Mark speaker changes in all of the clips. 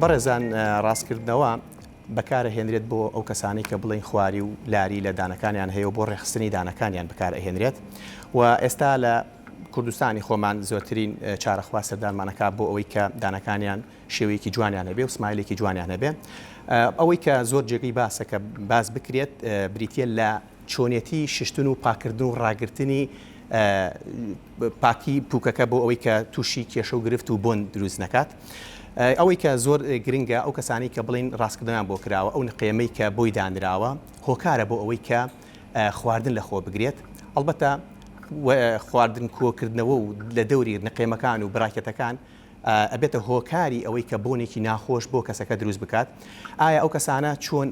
Speaker 1: بەڕێزان ڕاستکردنەوە بەکارە هێنرێت بۆ ئەو کەسانی کە بڵین خواری و لاری لە دانەکانیان هەیە و بۆ ڕێخستنی دانەکانیان بەکار ئەهێنرێت و ئێستا لە کوردستانی خۆمان زۆترین چارەخوا سەردانمانەکە بۆ ئەوەی کە دانەکانیان شێوەیەکی جوانیان هەبێ و سمایلێکی جوانیان هەبێ ئەوەی کە زۆر جێگەی باسەکە باس بکرێت بریتە لە چۆنێتی ششتن و پاککردن و ڕاگرتنی پاکی پوکەکە بۆ ئەوەی کە تووشی کێشە و گرفت و بۆن دروست نەکات ئەوەی کە زۆر گرنگە ئەو کەسانی کە بڵین ڕاستکردنیان بۆ کراوە ئەو نقێمەی کە بۆی دانراوە هۆکارە بۆ ئەوەی کە خواردن لە خۆ بگرێت ئەڵبەتە خواردن کۆکردنەوە و لە دەوری نقێمەکان و براکەتەکان ئەبێتە هۆکاری ئەوەی کە بۆنێکی ناخۆش بۆ کەسەکە دروست بکات؟ ئایا ئەو کەسانە چۆن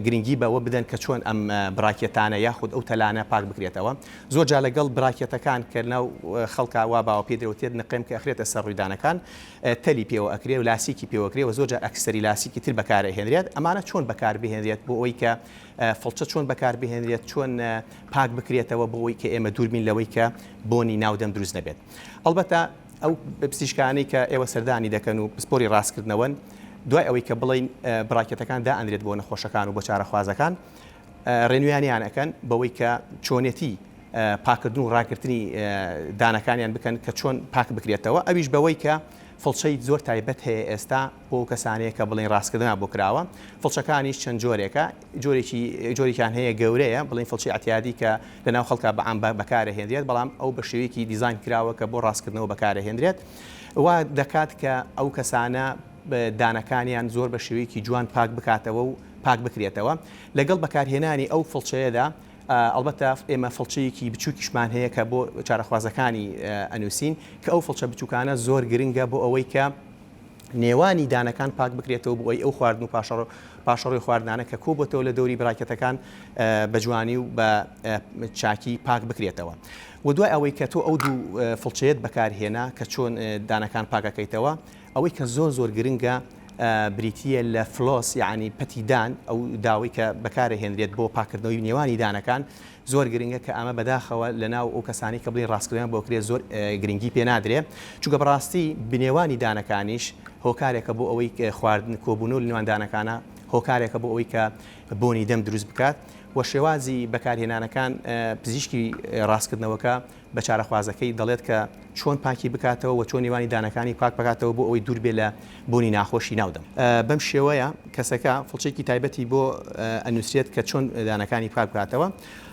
Speaker 1: گرنگی بەوە بدەن کە چۆن ئەم براکێتانە یاخود ئەو تەلانە پاک بکرێتەوە؟ زۆر جار لەگەڵ براکێتەکان کە لەناو خەڵکا وا باوە پێی درەوتێت نقێم کە ئەخرێتە سەر ڕوویدانەکان تەلی پێوە ئەکرێ و لاسیکی پێوە ئەکرێ و زۆر جار ئەکسسەری لاسیکی تر بەکار ئەهێنرێت ئەمانە چۆن بەکار بهێنرێت بۆ ئەوەی کە فڵچە چۆن بەکار بهێنرێت چۆن پاک بکرێتەوە بۆ ئەوەی کە ئێمە دوور بین لەوەی کە بۆنی ناو دەم دروست نەبێت؟ ئەڵبەتە ئەو پزیشکانەی کە ئێوە سەردانی دەکەن و پسپۆری ڕاستکردنەوەن، دوای ئەوەی کە بڵێین براکێتەکان دائەنرێت بۆ نەخۆشەکان و بۆ چارەخوازەکان، ڕێنویانیان ئەکەن بەوەی کە چۆنێتی پاککردن و ڕاگرتنی دانەکانیان بکەن کە چۆن پاک بکرێتەوە، ئەویش بەوەی کە فڵچەی زۆر تایبەت هەیە ئێستا، بۆ ئەو کەسانەیە کە بڵێن ڕاستکردنیان بۆ کراوە، فڵچەکانیش چەند جۆرێکە، جۆرێکی جۆرێکیان هەیە گەورەیە، بڵێن فڵچەی ئەتیادی کە لەناو خەڵکا بە عام بەکارەهێنرێت، بەڵام ئەو بە شێوەیەکی دیزاین کراوە کە بۆ ڕاستکردنەوە بەکارەهێنرێت، وا دەکات کە ئەو کەسانە دانەکانیان زۆر بە شێوەیەکی جوان پاک بکاتەوە و پاک بکرێتەوە، لەگەڵ بەکارهێنانی ئەو فڵچەیەدا ئەڵبەتە ئێمە فڵچەیەکی بچووکیشمان هەیە کە بۆ چارەخوازەکانی ئەنووسین کە ئەو فڵچە بچووکانە زۆر گرنگە بۆ ئەوەی کە نێوانی دانەکان پاک بکرێتەوە بۆ ئەی ئەو خواردن و پاشەڕۆی خواردنانە کە کۆ بۆتەوە لە دەوری براکەتەکان بە جوانی و بە چاکی پاک بکرێتەوە و دوای ئەوەی کە تۆ ئەو دوو فڵچەیەت بەکارهێنا کە چۆن دانەکان پاکەکەیتەوە ئەوەی کە زۆر زۆر گرنگە بریتە لە فلۆس یعنی پەتیدان ئەو داوای کە بەکارە هێنرێت بۆ پاکردنەوەی نێوانی دانەکان زۆر گرنگە کە ئەمە بەداخەوە لە ناو ئەو کەسانەی کە بڵێی ڕاستکردنەوەیان بۆ کرێ زۆر گرنگی پێ نادرێ چونکە بەڕاستی بنێوانی دانەکانیش هۆکارێکە بۆ ئەوەی خواردن کۆبوونەوە لە نێوان دانەکانە هۆکارێکە بۆ ئەوەی کە بۆنی دەم دروست بکات وە شێوازی بەکارهێنانەکان پزیشکی ڕاستکردنەوەکە بە چارەخوازەکەی دەڵێت کە چۆن پاکی بکاتەوە وە چۆن نێوانی دانەکانی پاک بکاتەوە بۆ ئەوەی دوور بێت لە بوونی ناخۆشی ناو دەم بەم شێوەیە کەسەکە فڵچەیەکی تایبەتی بۆ ئەنوسرێت کە چۆن دانەکانی پاک بکاتەوە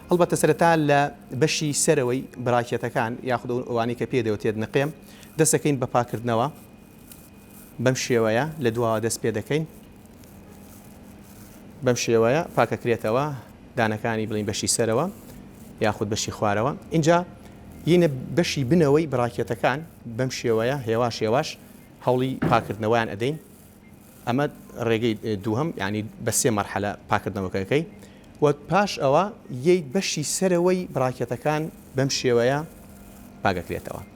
Speaker 1: هەڵبەتە سەرەتا لە بەشی سەرەوەی براکێتەکان یاخود ئەوانەی کە پێدەوتێت نقێم دەسەکەین بە پاکردنەوە بەم شێوەیە لە دواوە دەست پێ دەکەین بەم شێوەیە پاکەکرێتەوە دانەکانی بڵین بەشی سەرەوە یاخود بەشی خوارەوە اینجا یینە بەشی بنەوەی بڕاکێتەکان بەم شێوەیە هێواش هێواش هەوڵی پاکردنەوەیان ئەدەین ئەمە ڕێگەی دووهم ینی بە سێ مەرحەلە پاکردنەوەکەکەی و پاش ئەوە یەی بەشی سەرەوەی بڕاکێتەکان بەم شێوەیە پاگەکرێتەوە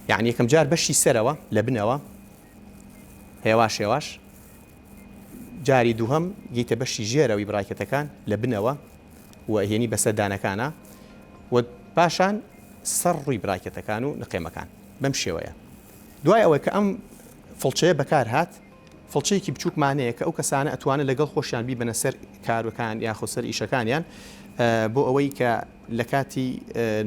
Speaker 1: یانی یەکەم جار بەشی سەرەوە لە بنەوە هێواش هێواش جاری دووهم گیتە بەشی ژێرەوەی بڕاکەتەکان لە بنەوە و هێنی بەسەردانەکانە و پاشان سەر ڕووی براکەتەکان و نقێمەکان بەم شێوەیە دوای ئەوەی کە ئەم فڵچەیە بەکار هات فڵچەیەکی بچوکمان هەیە کە ئەو کەسانە ئەتوانن لەگەڵ خۆشیان بیبەنە سەر کارەکان یاخود سەر ئیشەکانیان بۆ ئەوەی کە لە کاتی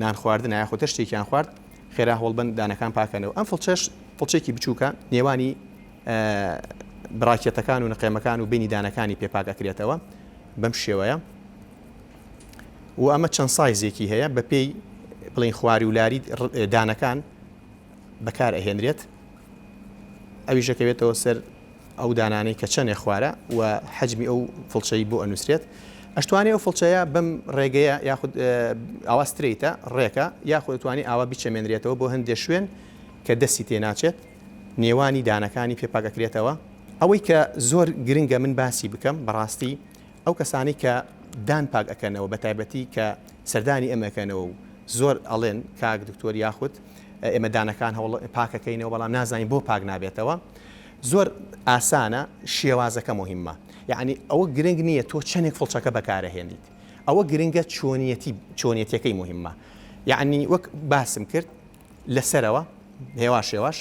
Speaker 1: نان خواردن یاخود تەشتێکیان خوارد خێرا هەوڵبن دانەکان پاکەنەوە ئەم فڵچەش فڵچێکی بچووکە نێوانی براکێتەکان و نقێمەکان و بینی دانەکانی پێپاکەکرێتەوە بەم شێوەیە و ئەمە چەند سایزێکی هەیە بە پێی بڵین خواری و لاری دانەکان بەکار ئەهێنرێت ئەویش دەکەوێتەوە سەر ئەو دانانەی کە چەنێ خوارە و حەجمی ئەو فڵچەی بۆ ئەنووسرێت ئەشتوانێ ئەو فڵچەیە بەم ڕێگەیە یاخود ئاوا ستریتە ڕێکە یاخود توانی ئاوا بیچەمێنرێتەوە بۆ هەندێ شوێن کە دەستی تێ ناچێت نێوانی دانەکانی پێپاکەکرێتەوە ئەوەی کە زۆر گرنگە من باسی بکەم بەڕاستی ئەو کەسانەی کە دان پاک ئەکەنەوە بەتایبەتی کە سەردانی ئێمە ئەکەنەوە و زۆر ئەڵێن کاک دکتۆر یاخود ئێمە دانەکان هەوڵ پاکەکەینەوە بەڵام نازانین بۆ پاک نابێتەوە زۆر ئاسانە شێوازەکە مهمە یعنی ئەوە گرنگ نییە تۆ چەندێک فڵچەکە بەکارەهێنیت ئەوە گرنگە چۆنیەتی چۆنیەتەکەی مهمە یعنی وەک باسم کرد لەسەرەوە هێواش هێواش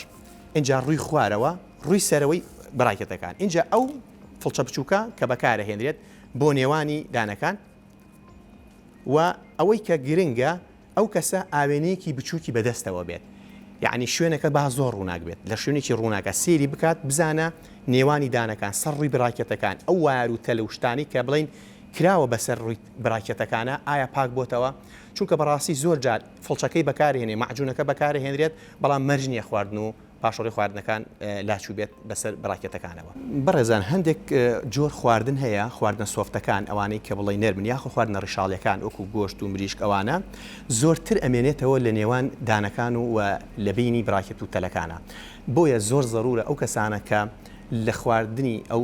Speaker 1: اینجا ڕووی خوارەوە ڕووی سەرەوەی بڕاکێتەکان اینجا ئەو فڵچە بچووکە کە بەکارەهێنرێت بۆ نێوانی دانەکان و ئەوەی کە گرنگە ئەو کەسە ئاوێنەیەکی بچووکی بەدەستەوە بێت یعنی شوێنەکە با زۆر ڕووناک بێت لە شوێنێکی ڕووناکە سێری بکات بزانە نێوانی دانەکان سەر ڕووی براکەتەکان ئەو وار و تەل و شتانی کە بڵین کراوە بەسەر ڕووی براکەتەکانە ئایا پاک بۆتەوە چونکە بەڕاستی زۆر جار فڵچەکەی بەکارهێنێ معجونەکە بەکارهێنرێت بەڵام مەرج نییە خواردن و پاشەڕۆی خواردنەکان لاچووبێت بەسەر براکێتەکانەوە. بەڕێزان هەندێک جۆر خواردن هەیە خواردنە سۆفتەکان ئەوانەی کە بڵێی نەرمن یاخۆ خواردنە ڕیشاڵیەکان وەکو گۆشت و مریشک ئەوانە زۆرتر ئەمێنێتەوە لە نێوان دانەکان و وە لە بینی براکێت و تەلەکانا بۆیە زۆر زەرورە ئەو کەسانە کە لە خواردنی ئەو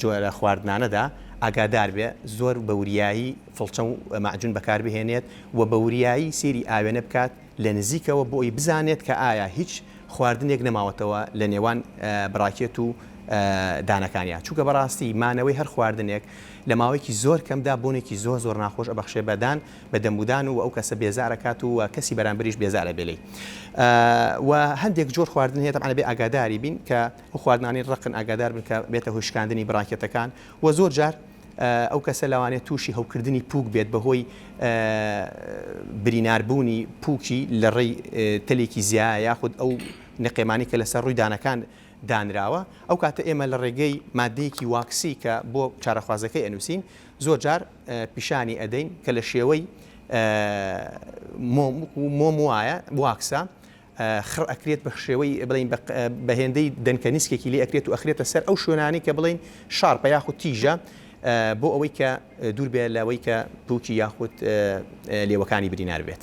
Speaker 1: جۆرە خواردنانەدا ئاگادار بێ زۆر بە وریایی فڵچە و مەعجون بەکار بهێنێت وە بە وریایی سەیری ئاوێنە بکات لە نزیکەوە بۆ ئەوەی بزانێت کە ئایا هیچ خواردنێک نەماوەتەوە لە نێوان براکێت و دانەکانیا چونکە بەڕاستی مانەوەی هەر خواردنێک لە ماوەیەکی زۆر کەمدا بۆنێکی زۆر زۆر ناخۆش ئەبەخشێ بە دان بە دەمودان و ئەو کەسە بێزارەکات و کەسی بەرامبریش بێزارە بێلی و هەندێک جۆر خواردن هەیە تەعاە بێ ئاگاداری بین کە خواردنانی ڕقن ئاگادار بن کە بێتە هۆشکاندنی بڕاکێتەکان و زۆر جار ئەو کەسە لەوانەیە تووشی هەوکردنی پووک بێت بەهۆی بریناربوونی پووکی لە ڕێی تەلێکی زیایە یاخود ئەو نقێمانەی کە لەسەر ڕووی دانەکان دانراوە ئەو کاتە ئێمە لە ڕێگەی ماددەیەکی واکسی کە بۆ چارەخوازەکەی ئەنووسین زۆر جار پیشانی ئەدەین کە لە شێوەی مۆم وایە واکسە خڕ ئەکرێت بەشێوەی بڵێین بە هێندەی دەنکە نیسکێکی لێ ئەکرێت و ئەخرێتە سەر ئەو شوێنانەی کە بڵێین شارپە یاخود تیژە بۆ ئەوەی کە دوور بێت لەوەی کە پوکی یاخود لێوەکانی برینار بێت.